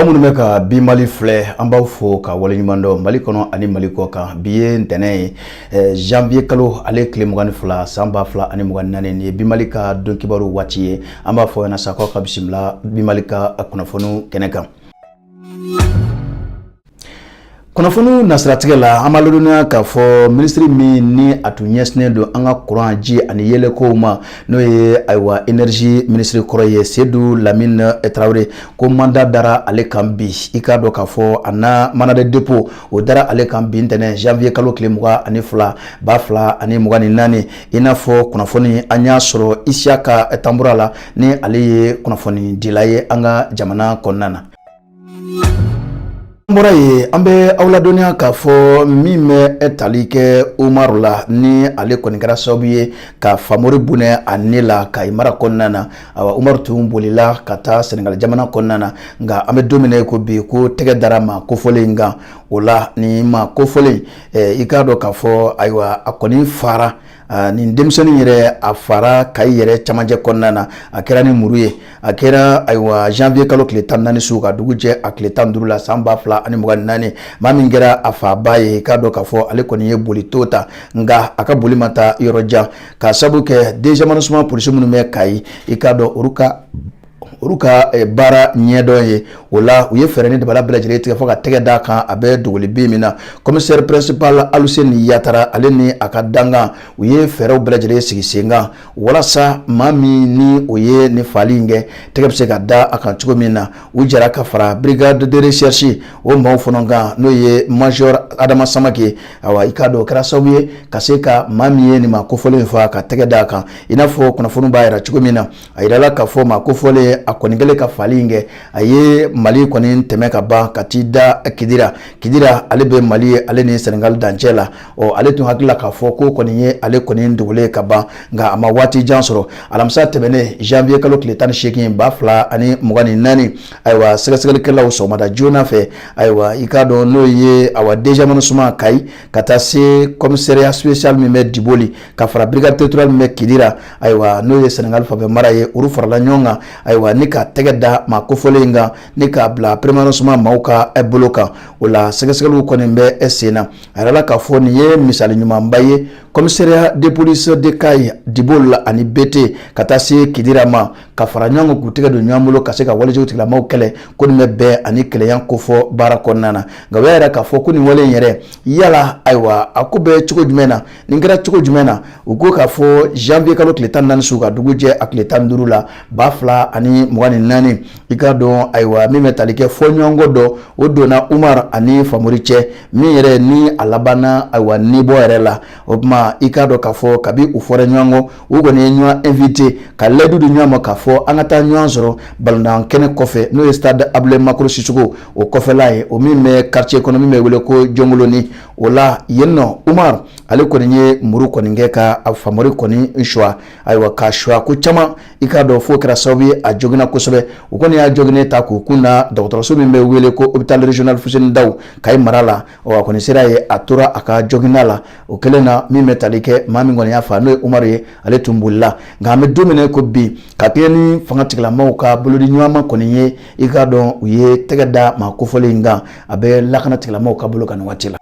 aw minnu bɛ ka bi mali filɛ an b'aw fo ka waleɲuman dɔn mali kɔnɔ ani mali kɔ kan bi ye ntɛnɛn ye eh, janvier kalo ale tile mugan ni fila san ba fila ani mugan ni naani nin ye bi mali ka don kibaru waati ye an b'a fɔ yan na sa k'aw ka bisimila bi mali ka kunnafoniw kɛnɛ kan kunnafoniw nasiratigɛ la an b'aw ladɔnniya k'a fɔ minisiri min ni a tun ɲɛsinnen don an ka kuran ji ani yeelenkow ma n'o ye ayiwa énergie minisiri kɔrɔ ye sedu lamini tarawele ko mandat dara ale kan bi i k'a dɔn k'a fɔ a na mandat de dépôt o dara ale kan bi ntɛnɛn janvier kalo tile mugan ani fila ba fila ani mugan ni naani i n'a fɔ kunnafoni an y'a sɔrɔ isiyaka tanbura la ni ale ye kunnafoni dila ye an ka jamana kɔnɔna na an bɔra yen an bɛ aw ladɔnniya k'a fɔ min bɛ tali kɛ umaru la ni ale kɔni kɛra sababu ye ka famori bɔnɛ a ni la kayi mara kɔnɔna na awa umaru tun bolila ka taa sɛnɛgali jamana kɔnɔna na nka an bɛ don min na i ko bi ko tɛgɛ dara maa kofɔlen in kan o la ni maa kofɔlen i k'a dɔn k'a fɔ ayiwa a kɔni faara nin denmisɛnnin yɛrɛ a faara kayi yɛrɛ camancɛ kɔnɔna na a kɛra ni muru ye a kɛra ayiwa janvier kalo tile tan naani su ka dugu jɛ a tile tan duuru la san ba fila ani mugan naani maa min kɛra a faabaa ye i k'a dɔn k'a fɔ ale kɔni ye boli to ta nka a ka boli ma taa yɔrɔ jan ka sabu kɛ deuxième arrondissement polisiw minnu bɛ kayi i k'a dɔn olu ka olu ka eh, baara ɲɛdɔn ye o la u ye fɛɛrɛ ni dabala bɛɛ lajɛlen tigɛ fo ka tɛgɛ d'a kan a bɛ dogoli bin min na commissaire principal aluseni yatara ale ni a ka dankan u ye fɛɛrɛw bɛɛ lajɛlen sigi sen kan walasa maa min ni o ye nin faali in kɛ tɛgɛ bɛ se ka da a kan cogo min na u jɛra ka fara brigade de recherche o maaw fana kan n'o ye major adama samake awa i k'a dɔn o kɛra sababu ye ka se ka maa min ye nin maa kofɔlen in faa ka tɛgɛ d'a kan i n'a fɔ kunnafoni b'a yira cogo min na a yirala k'a fɔ maa kofɔlen a kɔni kɛlen ka faali in kɛ a ye mali kɔni tɛmɛ ka ban ka t'i da kidira kidira ale bɛ mali yɛrɛ ni senegali dancɛ la ɔ ale tun hakili la k'a fɔ k'o kɔni ye ale kɔni dogolen ka ban nka a ma waati jan sɔrɔ alamisa tɛmɛnen janvier kalo tile tan ni seegin ba fila ani mugan ni naani ayiwa sɛgɛsɛgɛlikɛlaw sɔgɔmada joona fɛ ayiwa i k'a dɔn n'o ye awa deuxième arrondissement kayi ka taa se commissariat spécial min bɛ diboli ka fara brigade territoriale min bɛ kidira ayiwa n'o ye sɛnɛgali fan fɛ mara ye olu farala ɲɔgɔn kan ayiwa ni ka tɛgɛ da maa kofɔlen in kan ni k'a bila premier arrondissement maaw ka eh, bolo kan o la sɛgɛsɛgɛliw kɔni bɛ eh, sen na a yirala k'a fɔ nin ye misali ɲumanba ye commissariat de police de Kayi Diboli ani bete ka taa se kidira ma ka fara ɲɔgɔn kan k'u tɛgɛ don ɲɔgɔn bolo ka se ka walejugu tigilamɔgɔw kɛlɛ ko nin bɛ bɛn ani kelenya kofɔ baara kɔnɔna na nka u y'a yira k'a fɔ ko nin wale in yɛrɛ yala ayiwa a ko bɛ cogo jumɛn na Nin kɛra cogo jumɛn na u ko k'a fɔ janvier kalo tile tan naani su ka dugu jɛ a tile tan duuru la ba fila ani mugan ni naani i k'a dɔn ayiwa min bɛ tali kɛ fɔɲɔgɔnkɔ dɔ o donna umar ani famori cɛ min yɛrɛ ni a labanna ayiwa nibɔ yɛrɛ la o tuma i k'a dɔn k'a fɔ kabi u fɔra ɲɔgɔn kɔ u kɔni ye ɲɔgɔn invite ka layidu di ɲɔgɔn ma k'a fɔ an ka taa ɲɔgɔn sɔrɔ balontan kɛnɛ kɔfɛ n'o ye stade abulayi makoro Sisoko o kɔfɛla ye o min bɛ quartier kɔnɔ min bɛ wele ko jɔnkoloni o la yen nɔ umar ale kɔni ye muru kɔni kɛ ka a famori kɔni suwa ayiwa k'a suwa ko caman i k'a dɔn fo kɛra sababu ye a joginna kosɛbɛ u kɔni y'a joginnen ta k'u kun da dɔgɔtɔrɔso min bɛ wele ko hôpital régional Fuseni Daw Kayi mara la ɔ a kɔni sera yen a tora a ka joginda la o kɛlen na min bɛ tali kɛ maa min kɔni y'a fa n'o ye umaru ye ale tun bolila nka an bɛ don min ko bi ka kɛɲɛ ni fanga tigilamɔgɔw ka bolodi ɲuman kɔni ye i k'a dɔn u ye tɛgɛ da maa kofɔlen in kan a bɛ lakana tigilamɔgɔw ka bolo kan nin waati la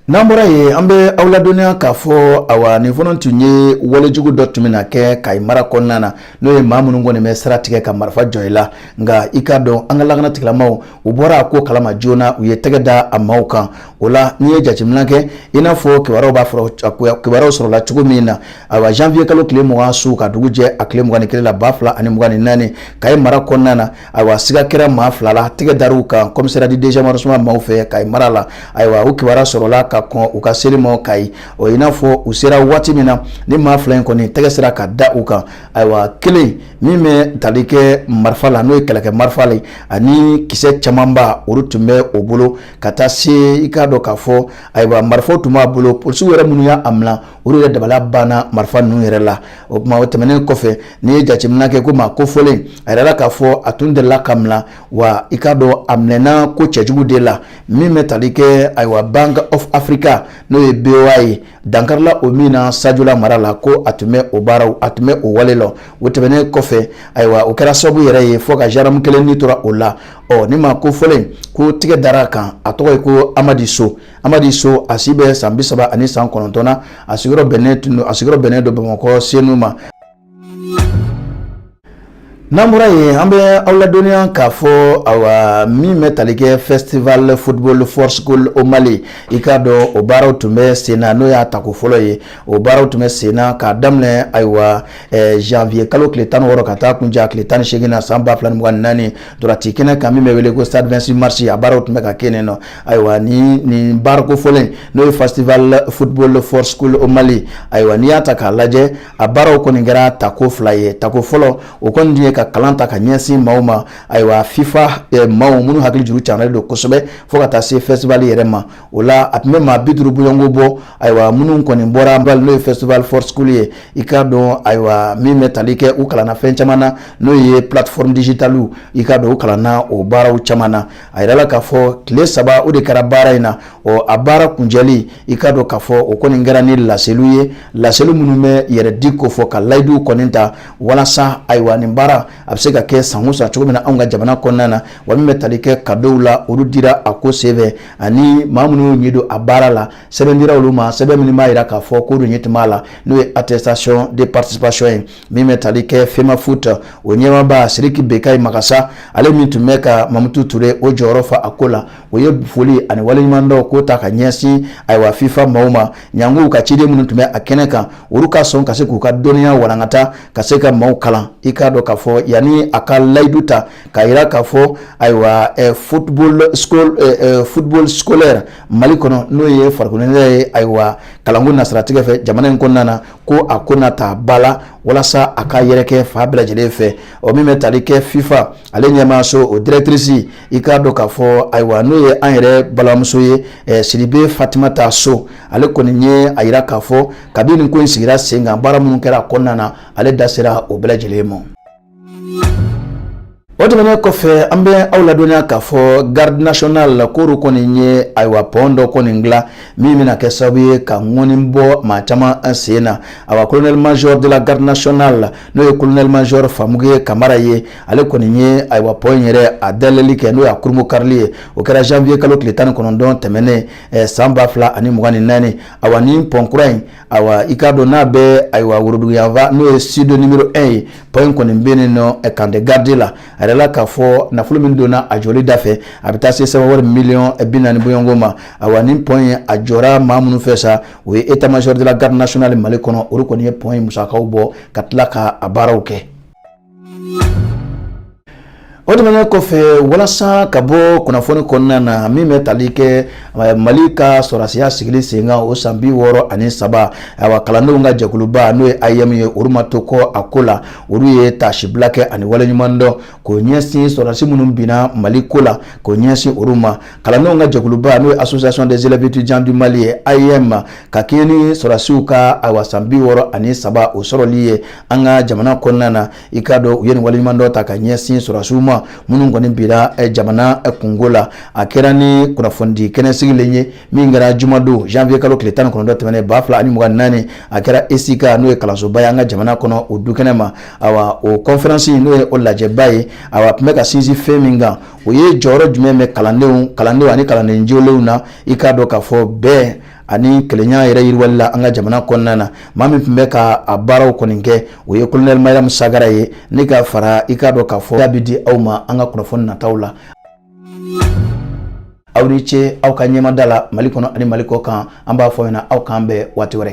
n'an bɔra yen an bɛ aw ladɔnniya k'a fɔ awa nin fana tun ye walejugu dɔ tun bɛna kɛ kayi mara kɔnɔna na n'o ye maa minnu kɔni bɛ sira tigɛ ka marifa jɔ i la nka i k'a dɔn an ka lakana tigilamɔgɔw u bɔra a ko kalama joona u ye tɛgɛ da a maaw kan O la n'i ye jateminɛ kɛ i n'a fɔ kibaruyaw b'a fɔ kibaruyaw sɔrɔla cogo min na awa janvier kalo tile mugan su ka dugu jɛ a tile mugan ni kelen la ba fila ani mugan ni naani Kayi mara kɔnɔna na ayiwa siga kɛra maa fila la tɛgɛ dara u kan commissariat du deuxième arrondissement maaw fɛ Kayi mara la ayiwa u kibaruya sɔrɔla ka kɔn u ka seli ma Kayi o i n'a fɔ u sera waati min na ni maa fila in kɔni tɛgɛ sera ka da u kan ayiwa kelen min bɛ tali kɛ marifa la n'o ye kɛlɛkɛ marifa la ani kisɛ camanba olu tun bɛ u bolo ka taa se i k'a dɔn k'a fɔ ayiwa marifaw tun b'a bolo polisiw yɛrɛ minnu y'a mina olu yɛrɛ dabala banna marifa ninnu yɛrɛ la o tuma o tɛmɛnen kɔfɛ n'i ye jateminɛ kɛ ko maa kofɔlen a yirala k'a fɔ a tun delila ka mina wa i k'a dɔn a minɛna ko cɛjugu de la min bɛ tali kɛ ayiwa bank of africa n'o ye boa ye dankarila o min na sajola mara la ko a tun bɛ o baaraw a tun bɛ o wale la o tɛmɛnen kɔfɛ ayiwa o kɛra sababu yɛrɛ ye fo ka zandaramu kelen ni tora o la ɔ nin maa kofɔlen in ko tigɛ dara a kan a tɔgɔ ye ko amadi so amadi so a si bɛ san bi saba ani san kɔnɔntɔn na a sigiyɔrɔ bɛnnen tun don a sigiyɔrɔ bɛnnen don bamakɔ senu ma n'an bɔra yen an bɛ aw ladɔnniya k'a fɔ awa min bɛ tali kɛ festival football for school au mali i k'a dɔn o baaraw tun bɛ sen na n'o y'a tako fɔlɔ ye o baaraw tun bɛ sen na k'a daminɛ ayiwa eh, janvier kalo tile tan ni wɔɔrɔ ka taa kuncɛ tile tan ni seegin na san ba fila ni mugan ni naani Ntolaci kɛnɛ kan min bɛ wele ko vingt-six mars a baaraw tun bɛ ka kɛ yen nɔ ayiwa ni nin baara kofɔlen n'o ye festival football for school au mali ayiwa n'i y'a ta k'a lajɛ a baaraw kɔni kɛra tako fila ye tako fɔlɔ o kɔni tun ye ka kalan ta ka ɲɛsin maaw ma ayiwa fifa maaw minnu hakili juru janyalen don kosɛbɛ fo ka taa se festival yɛrɛ ma o la a tun bɛ maa bi duuru bɔɲɔgɔnko bɔ ayiwa minnu kɔni bɔra an n'o ye festival for school ye i k'a dɔn ayiwa min bɛ tali kɛ u kalanna fɛn caman na n'o ye plateforme digitale i k'a dɔn u kalanna o baaraw caman na a yɛrɛ la k'a fɔ tile saba o de kɛra baara in na ɔ a baara kuncɛli i k'a dɔn k'a fɔ o kɔni kɛra ni laseliw ye laseli minnu bɛ yɛrɛ di ko fɔ ka layiduw kɔni ta walasa ayiwa nin baara a bɛ se ka kɛ san o san cogo min na anw ka jamana kɔnɔna na wa min bɛ tali kɛ kadow la olu dira a ko senfɛ ani maa minnu y'u ɲɛdon a baara la sɛbɛn dira olu ma sɛbɛn minnu b'a jira k'a fɔ k'u ɲɛ tun b'a la n'o ye attestation de participation ye min bɛ tali kɛ FEMAFOOT o ɲɛmaaba Sidiki Bekayi Magasa ale min tun bɛ ka Mamutu Ture o jɔyɔrɔ fa a ko la o ye foli ani waleɲumandɔn ko ta ka ɲɛsin ayiwa FIFA maaw ma janko u ka ciden minnu tun bɛ a kɛnɛ kan olu ka sɔn ka se k'u ka dɔnniya walankata ka se ka maaw kalan i k'a dɔn k'a fɔ yanni a ka layidu ta ka yira k'a fɔ ayiwa eh, football school eh, eh, football scolaire mali kɔnɔ n'o ye farikoloɲɛnajɛ ye ayiwa kalanko nasiratigɛ fɛ jamana in kɔnɔna na ko a ko na ta ba la walasa a ka yɛrɛkɛ fan bɛɛ lajɛlen fɛ o min bɛ tali kɛ fifa ale ɲɛmaaso o directrice i k'a dɔn k'a fɔ ayiwa n'o ye an yɛrɛ balimamuso ye eh, sidibe fatimata so ale kɔni ye a yira k'a fɔ kabini nin ko in sigira sen kan baara minnu kɛra a kɔnɔna na ale da sera o bɛɛ lajɛlen ma o tɛmɛnen kɔfɛ an bɛ aw ladɔnniya k'a fɔ garde nationale k'olu kɔni ye ayiwa pɔn dɔ kɔni dilan min bɛna kɛ sababu ye ka ŋɔni bɔ maa caman sen na awa colonel major de la garde nationale n'o ye kolonɛli majɔr famuke kamara ye ale kɔni ye ayiwa pɔn in yɛrɛ a dayɛlɛli kɛ n'o y'a kurunbonkarili ye o kɛra janvier kalo tile tan ni kɔnɔntɔn tɛmɛnen eh, san ba fila ani mugan ni naani awa ni pɔn kura in awa i k'a dɔn n'a bɛ ayiwa woroduguyanfan n'o ye sud numero 1 ye pɔn in kɔni bɛ yen nɔ eh, camp des gardes la a yɛrɛ la k'a fɔ nafolo min donna a jɔli da fɛ a bɛ taa se sefa wari miliyɔn eh, bi naani bɔɲɔgɔnko ma awa ni pɔn in a jɔra maa minnu fɛ sa o ye état-major de la garde nationale mali kɔnɔ olu kɔni ye pɔn in musakaw bɔ ka tila ka a baaraw kɛ o tɛmɛnen kɔfɛ walasa ka bɔ kunnafoni kɔnɔna na min bɛ tali kɛ eh, mali ka sɔrɔdasiya sigili senkan o san bi wɔɔrɔ ani saba ayiwa kalandenw ka jɛkuluba n'o ye AEEM ye olu ma to kɔ a ko la olu ye taasibila kɛ ani waleɲuman dɔn k'o ɲɛsin sɔrɔdasi minnu binna mali ko la k'o ɲɛsin olu ma kalandenw ka jɛkuluba n'o ye association des élèves étudiants du mali ye AEEM ka kɛɲɛ ni sɔrɔdasiw ka awa san bi wɔɔrɔ ani saba o sɔrɔli ye an ka jamana kɔnɔna na i k'a dɔn u ye nin waleɲuman dɔn ta ka ɲɛsin sɔrɔdasiw ma minnu kɔni binna jamana kunko la a kɛra ni kunnafonidi kɛnɛ sigilen ye min kɛra jumadon janvier kalo tile tan ni kɔnɔntɔn tɛmɛnen ba fila ani mugan naani a kɛra ECICA n'o ye kalansoba ye an ka jamana kɔnɔ o du kɛnɛ ma awa o conférence n'o ye o lajɛba ye awa tun bɛ ka sinsin fɛn min kan o ye jɔyɔrɔ jumɛn bɛ kalandenw kalandenw ani kalanden jolenw na i k'a dɔn k'a fɔ bɛn ani kelenya yɛrɛ yiriwali la an ka jamana kɔnɔna na maa min tun bɛ ka a baaraw kɔni kɛ o ye kolonɛli mariyamu sagara ye ne ka fara i k'a dɔn k'a fɔ da bɛ di aw ma an ka kunnafoni nataw la aw ni ce aw ka ɲɛmada la mali kɔnɔ ani mali kɔ kan an b'a fɔ ɲɛna aw k'an bɛn waati wɛrɛ